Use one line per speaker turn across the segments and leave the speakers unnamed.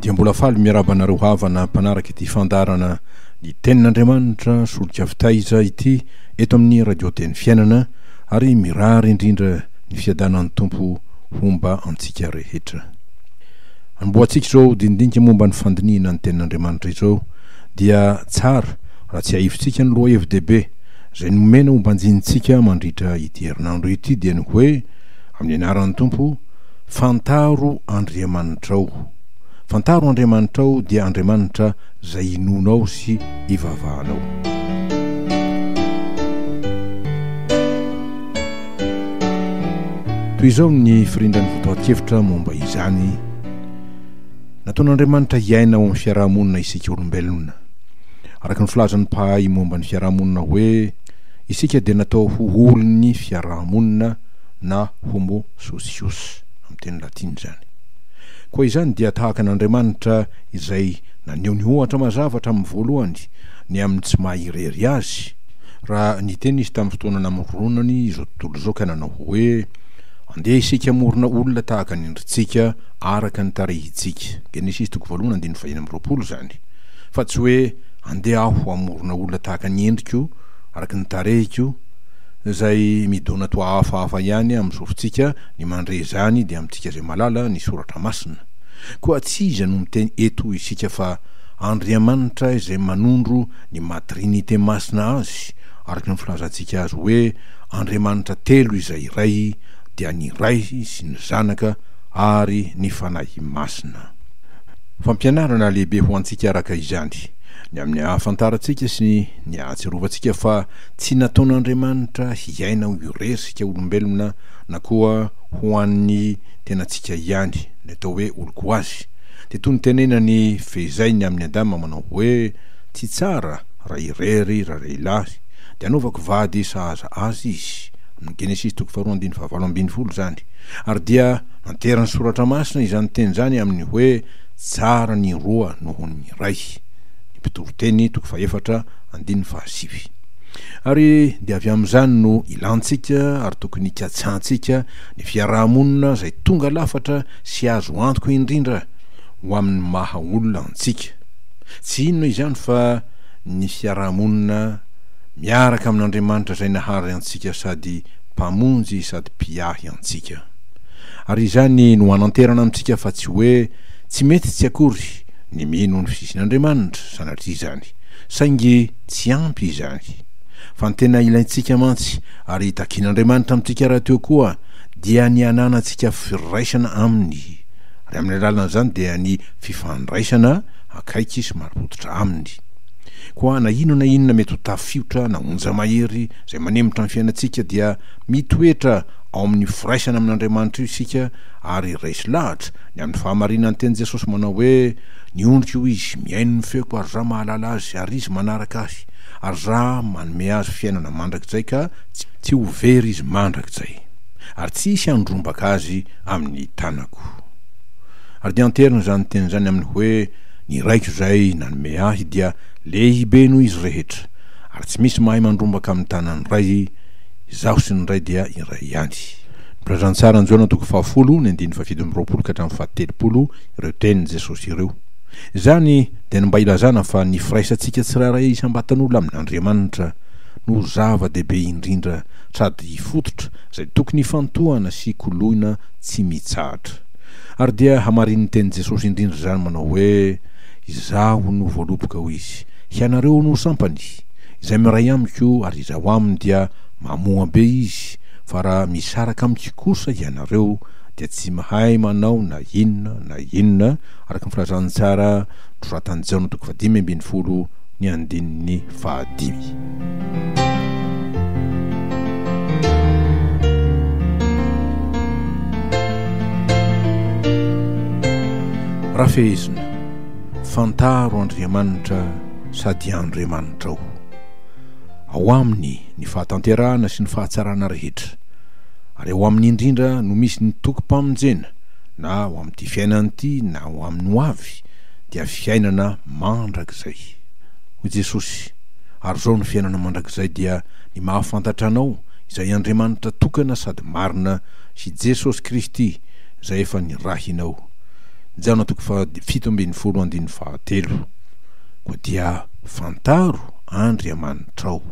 dia mbola faly miaraba anareo havana mpanaraka ity fandarana ny tenin'Andriamanitra solika fitaiza ity eto amin'ny radio teny fiainana ary mirary indrindra ny fiadanan'ny tompo homba antsika rehetra amboantsika izao dindinka momba ny fandinihina ny tenin'Andriamanitra izao dia tsara raha tsy ahivintsika ny loha hevi-dehibe Izay nomena hombanjinintsika mandritra ity herinandro ity dia ny hoe, Amin'ny anaran'ny Tompo, fantaro Andriamanitrao. Fantaro Andriamanitrao dia Andriamanitra izay inoanao sy ivavahanao. Toy izao ny firindran'ny votoatin-kevitra momba izany, Nataon'Andriamanitra hiaina ao amin'ny fiaraha-monina isika olombelona. araka ny filazan'ny mpahay momba ny fiarahamonina hoe, Isika dia natao ho olon'ny fiarahamonina na homo socius, amin'ny teny latina izany. Koa izany dia tahaka an'Andriamanitra izay naneho ny ohatra mazava hatramin'ny voalohany ny amin'ny tsy maha irery azy, raha niteny izy tamin'ny fotoana namoronany izao tontolo izao ka nanao hoe, Andeha isika hamorona olona tahaka ny endritsika, araka ny tarehintsika. Genesisy toko voalohany andininy faheny amby roapolo izany. fa tsy hoe andeha aho hamorona olona tahaka ny endriko, araka ny tarehiko, izay midona toa hafahafa ihany amin'ny sofintsika, ny mandre izany dia amintsika izay malala ny soratra masina. Koa tsy iza no miteny eto isika fa Andriamanitra izay manondro ny maha Trinite masina azy, araka ny filazantsika azy hoe Andriamanitra telo izay iray dia ny Ray sy ny Zanaka ary ny Fanahy Masina. Fampianarana lehibe ho antsika araka izany, ny amin'ny hahafantarantsika sy ny hahatsiarovantsika fa tsy nataon'Andriamanitra hiaina ho irery isika olombelona na koa ho an'ny tenantsika ihany, ny atao hoe oloko azy, dia toy ny tenenan'i Fehizay ny amin'i Adama manao hoe, Tsy tsara raha irery ralehilahy, dia anaovako vady sahaza azy izy, amin'ny Genesisy toko faharoa andininy fahavalo ambin'ny folo izany, ary dia Anteran'ny Soratra Masina izany teny izany amin'ny hoe tsara ny roa noho ny iray. Ny Mpitoriteny, toko fahefatra, andininy fahasivy. Ary dia avy amin'izany no ilantsika ary tokony hikatsahantsika ny fiaraha-monina izay tonga lafatra sy azo antoka indrindra ho amin'ny maha olona antsika. Tsy inona izany fa ny fiaraha-monina miaraka amin'Andriamanitra izay nahary antsika sady Mpamonjy sady Mpiahy antsika. Ary izany no hananterana amintsika fa tsy hoe tsy mety tsy akory ny mino ny fisian'Andriamanitra sanatria izany, saingy tsy ampy izany. Fa ny tena ilaintsika mantsy ary itakian'Andriamanitra amintsika rahateo koa dia ny hananantsika firaisana Aminy, ary amin'ny alalan'izany dia ny fifandraisana akaiky sy marim-pototra Aminy. Koa na inona na inona mety ho tafiotra na onja-mahery izay manemotra ny fiainantsika dia mitoetra ao amin'ny firaisana amin'Andriamanitra io isika ary resy lahatra ny amin'ny fahamarinan'ny tenin'i Jesosy manao hoe, Ny ondriko io izy, mihaino ny feoko ary Izaho mahalala azy ary izy manaraka Ahy, ary Izaho manome azy fiainana mandrakizay ka tsy ho very izy mandrakizay, ary tsy hisy handrombaka azy amin'ny tanako. Ary dia anterina izany teny izany amin'ny hoe, Ny Raiko izay nanome Ahy dia lehibe noho izy rehetra, ary tsy misy mahay mandrombaka amin'ny tanan'ny Ray, Izaho sy ny Ray dia iray ihany. Mitratra ny Tsara Anjoana toko fahafolo, ny andininy fahafito amby roapolo ka hatramin'ny fahatelopolo, ireo tenin'i Jesosy ireo. Izany dia ny mba hilazana fa ny firaisantsika tsirairay isam-batan'olona amin'Andriamanitra no zava-dehibe indrindra sady fototra izay tokony hifantohana sy koloina tsy mitsahatra. Ary dia hamarinin'ny tenin'i Jesosy indrindra izany manao hoe, Izaho no voaloboka, hoy Izy, hianareo no sampany. Izay miray amiko ary izaho aminy dia mamoa be izy fa raha misaraka amiko kosa ianareo dia tsy mahay manao na inona na inona araka ny filazantsara nosoratan'i Jaona toko fahadimy ambin'ny folo ny andininy fahadimy. Rafehezina, fantaro Andriamanitra sady Andriamanitrao. Ao Aminy ny fahatanterahana sy ny fahatsarana rehetra, ary ao Aminy indrindra no misy ny tokim-pamonjena na ho amin'ity fiainana ity na ho amin'ny ho avy dia fiainana mandrakizay. Hoy Jesosy, Ary izao no fiainana mandrakizay dia ny mahafantatra Anao izay Andriamanitra tokana sady marina sy Jesosy Kristy izay efa nirahinao. Jona toko faha fito ambin'ny folo andininy fahatelo. koa dia fantaro Andriamanitrao.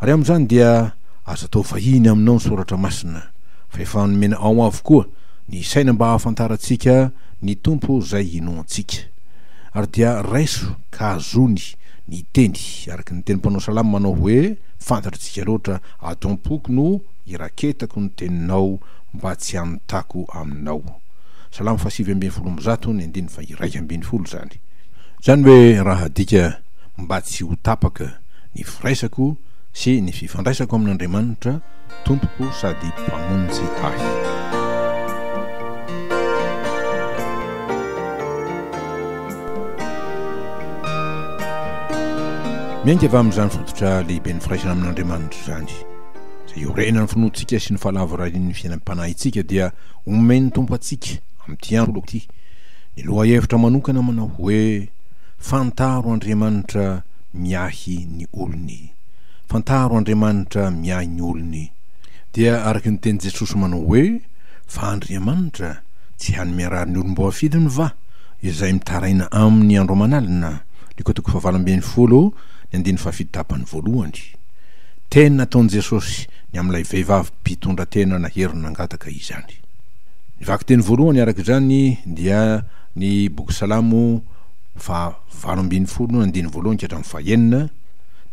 Ary amin'izany dia aza atao vahiny aminao ny soratra masina, fa efa nomena ao avokoa ny saina mba hahafantarantsika ny Tompo izay inoantsika. Ary dia raiso ka azony ny teny, araka ny teny mpanao salamo manao hoe, Fantatro tsika loatra ato am-poko no iraketako ny teninao mba tsy hanotako aminao. Salamo fahasivy ambin'ny folo amby zato ny andininy fahiraika ambin'ny folo izany. Izany hoe raha hadika mba tsy ho tapaka ny firaisako sy ny fifandraisako amin'Andriamanitra Tompoko sady Mpamonjy ahy. Miainga avy amin'izany fototra lehiben'ny firaisana amin'Andriamanitra izany, izay iorenan'ny finoantsika sy ny fahalavorarian'ny fiainam-panahintsika dia omen'ny Tompo antsika amin'ity andro ity. Ny lohahevitra manokana manao hoe, Fantaro Andriamanitra miahy ny olony. Fantaro Andriamanitra miahy ny olony. Dia araka ny tenin'i Jesosy manao hoe, Fa Andriamanitra tsy hany miharary ny olom-boafidiny va, izay mitaraina Aminy andro aman'alina? Liko toko fahavalo ambin'ny folo, ny andininy fahafito tapany voalohany. Teny nataon'i Jesosy ny amin'ilay vehivavy mpitondratena nahery nangataka izany. Ny vakiteny voalohany araka izany dia ny boky Salamo faha valo ambin'ny folo, andininy voalohany ka hatramin'ny faha enina,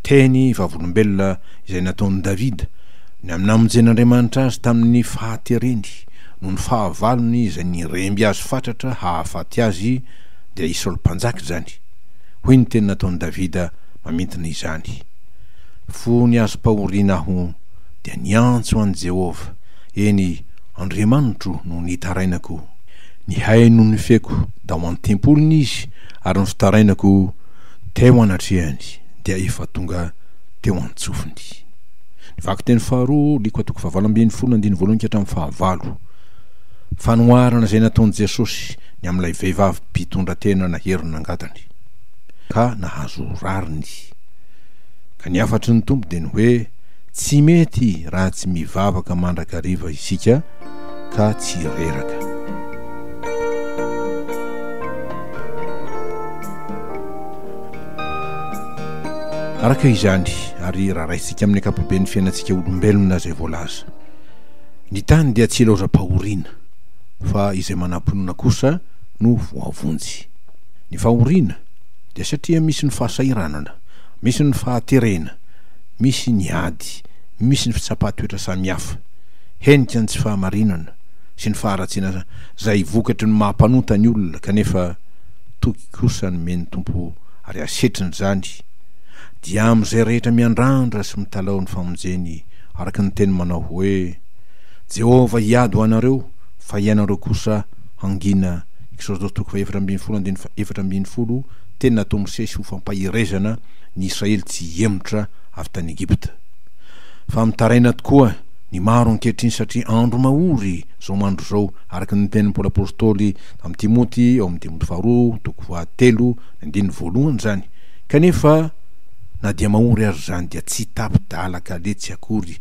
teny vavolombelona izay nataon'i Davida ny amin'ny namonjen'Andriamanitra azy tamin'ny fahatereny noho ny fahavalony izay niremby azy fatratra hahafaty azy, dia i Saoly Mpanjaka izany. Hoy ny teny nataon'i Davida mamintina izany, Fony azom-pahoriana aho dia niantso an'i Jehovah, eny, Andriamanitro no nitarainako. Nihaino ny feoko tao an-tempoliny Izy, ary ny fitarainako teo anatrehany dia efa tonga teo an-tsofiny. Ny vakiteny faharoa, Likoa toko fahavalo ambin'ny folo andininy voalohany ka hatramin'ny fahavalo. Fanoharana izay nataon'i Jesosy ny amin'ilay vehivavy mpitondra tena nahery nangatony, ka nahazo rariny. Ka ny hafatry ny Tompo dia ny hoe, Tsy mety raha tsy mivavaka mandrakariva isika ka tsy reraka. Araka izany, ary raha raisintsika amin'ny ankapoben'ny fiainantsika olombelona izay voalaza. Ny tany dia tsy ilaozam-pahoriana, fa izay manam-pinoana kosa no voavonjy. Ny fahoriana dia satria misy ny fahasahiranana, misy ny fahaterena, misy ny ady, misy ny fitsapan-toetra samihafa, henika ny tsy fahamarinana sy ny faharatsiana izay vokatry ny maha mpanota ny olona kanefa toky kosa ny men'ny Tompo ary asetriny izany dia amin'izay rehetra miandrandra sy mitalaho ny famonjeny araka ny teniny manao hoe Jehovah hiady ho anareo fa ianareo kosa hangina Exodos toko fahaefatra ambin'ny folo andininy efatra ambin'ny folo Teny natao Mosesy ho fampaherezana ny Israely tsy hihemotra avy tany Egypta. Fa mitaraina tokoa ny maro ankehitriny satria andro mahory zao mandro izao araka ny tenin'ny Paoly Apostoly tamin'i Timoty ao amin'ny Timoty faharoa toko fahatelo ny andininy voalohany izany kanefa na dia mahory aza izany dia tsy tapi-dalaka letsy akory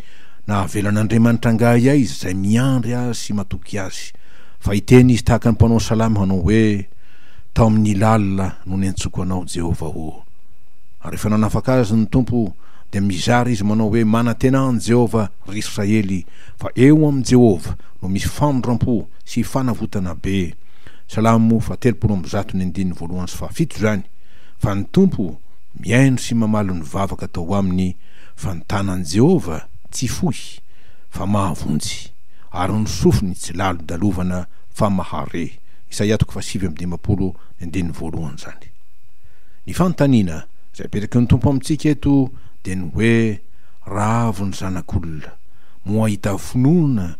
na avelan'Andriamanitra angahy ahy izay miandry azy sy matoky azy fa hiteny izy tahaka ny mpanao salamo hanao hoe tao amin'ny lalina no niantsoako anao Jehovah ô Ary rehefa nanafaka azy ny Tompo, dia mizara izy manao hoe, Manantena an'i Jehovah, ry Israely, fa eo amin'i Jehovah no misy famindram-po sy fanavotana be. Salamo fahatelopolo amby zato ny andininy voalohany sy fahafito izany, fa ny Tompo mihaino sy mamaly ny vavaka atao ho aminy, fa ny tanan'i Jehovah tsy fohy fa mahavonjy, ary ny sofiny tsy lalodalovana fa mahare. Isaia toko fahasivy amby dimampolo ny andininy voalohany izany. Ny fanontaniana izay apetraky ny Tompo amintsika eto dia ny hoe, Raha avy ny Zanak'olona, moa hahita finoana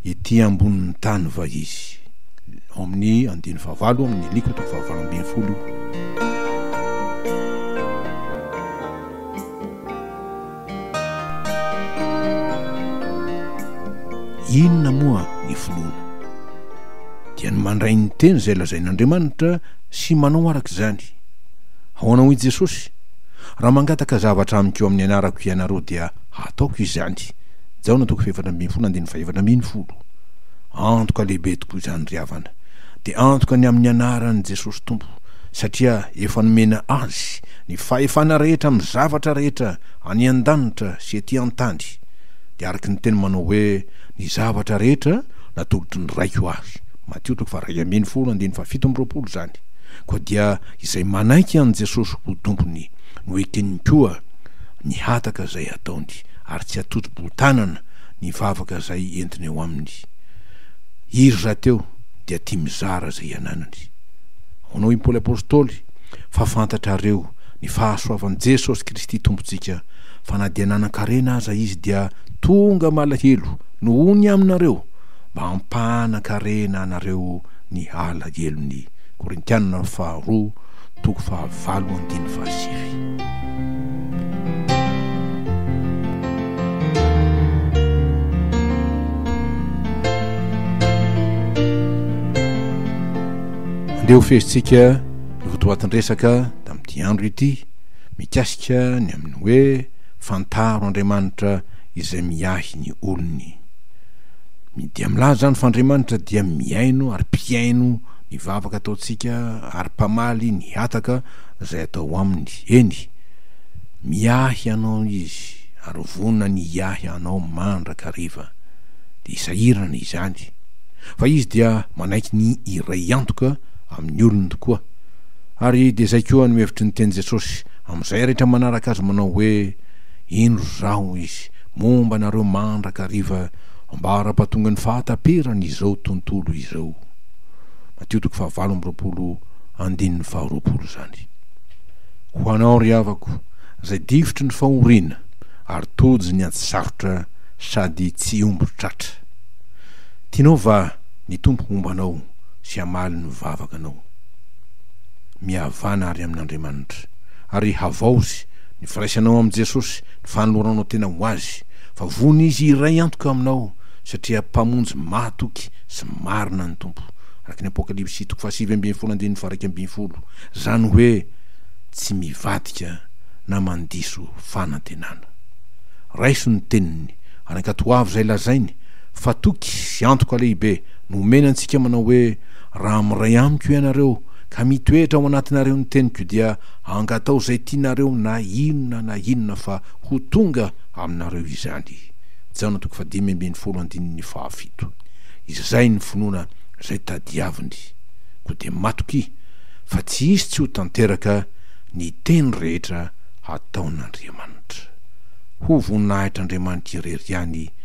ety ambonin'ny tany va izy? Ao amin'ny andininy fahavalo amin'ny Liko toko fahavalo ambin'ny folo io. Inona moa ny finoana? Dia ny mandray ny teny izay lazain'Andriamanitra sy manao araka izany. Ahoana hoy Jesosy? Raha mangataka zavatra amiko amin'ny anarako ianareo dia hataoko izany. Jaona toko fahefatra ambin'ny folo andininy fahefatra ambin'ny folo. Antoka lehibe tokoa izany ry havana. Dia antoka ny amin'ny anaran'i Jesosy Tompo satria efa nomena Azy Ny fahefana rehetra amin'ny zavatra rehetra any an-danitra sy ety an-tany, dia araka ny teny manao hoe, Ny zavatra rehetra natolotry ny Raiko Ahy, Matio toko faharay ambin'ny folo andininy fahafito amby roapolo izany, koa dia izay manaiky an'i Jesosy ho Tompony no ekeny koa ny hataka izay ataony, ary tsy atoto-boho-tanana ny vavaka izay entiny eo aminy. Iry rahateo dia tia mizara izay ananany. Ahoana hoy i Paoly Apostoly? fa fantatrareo ny fahasoavan'i Jesosy Kristy Tompontsika, fa na dia nanan-karena aza Izy dia tonga malahelo noho ny aminareo, mba hampahanan-karena anareo ny alahelony. Korintiana faharoa toko fahavalo andininy fahasivy. Andeha ho fehintsika Novotoatin-dresaka tamin'ity andro ity mikasika ny amin'ny hoe Fantaro Andriamanitra izay miahy ny olony. Ny dia milaza izany fa Andriamanitra dia mihaino ary mpihaino ny vavaka ataontsika ary mpamaly ny hataka izay atao aminy, eny, miahy anao Izy ary vonona ny hiahy anao mandrakariva. Dia sahirana izany fa Izy dia manaiky ny hiray antoka amin'ny olony tokoa. Ary dia izay koa no hevitry ny teny Jesosy amin'izay rehetra manaraka Azy manao hoe, Indro Izaho izy momba anareo mandrakariva mba harapatonga ny fahataperan' izao tontolo izao. Matio toko fahavalo amby roapolo andininy faharoapolo izany. Ho anao ry havako, izay difotry ny fahoriana ary tojo ny ady sarotra sady tsy omby tratra. Tianao va ny Tompo homba anao? sy hamaly ny vavakanao. Mihavana àry amin'Andriamanitra, ary havaozy ny firaisanao amin'i Jesosy, ny fanoloranao tena ho Azy, fa vono Izy hiray antoka aminao, satria Mpamonjy mahatoky sy marina ny Tompo, araka ny Apokalypsy toko fahasivy ambin'ny folo andininy faha-iraika ambin'ny folo, izany hoe tsy mivadika na mandiso fanantenana. Raiso ny teniny, ary ankatoavy izay lazainy, fa toky sy antoka lehibe Nomena antsika manao hoe, Raha miray amiko ianareo, ka mitoetra ao anatinareo ny teniko dia angataho izay tianareo na inona na inona fa ho tonga aminareo izany. Jaona toko fahadimy ambin'ny folo andininy fahafito. Izay ny finoana izay tadiaviny. Koa dia matoky fa tsy hisy tsy ho tanteraka ny teny rehetra hataon'Andriamanitra. Ho voninahitr'Andriamanitra irery ihany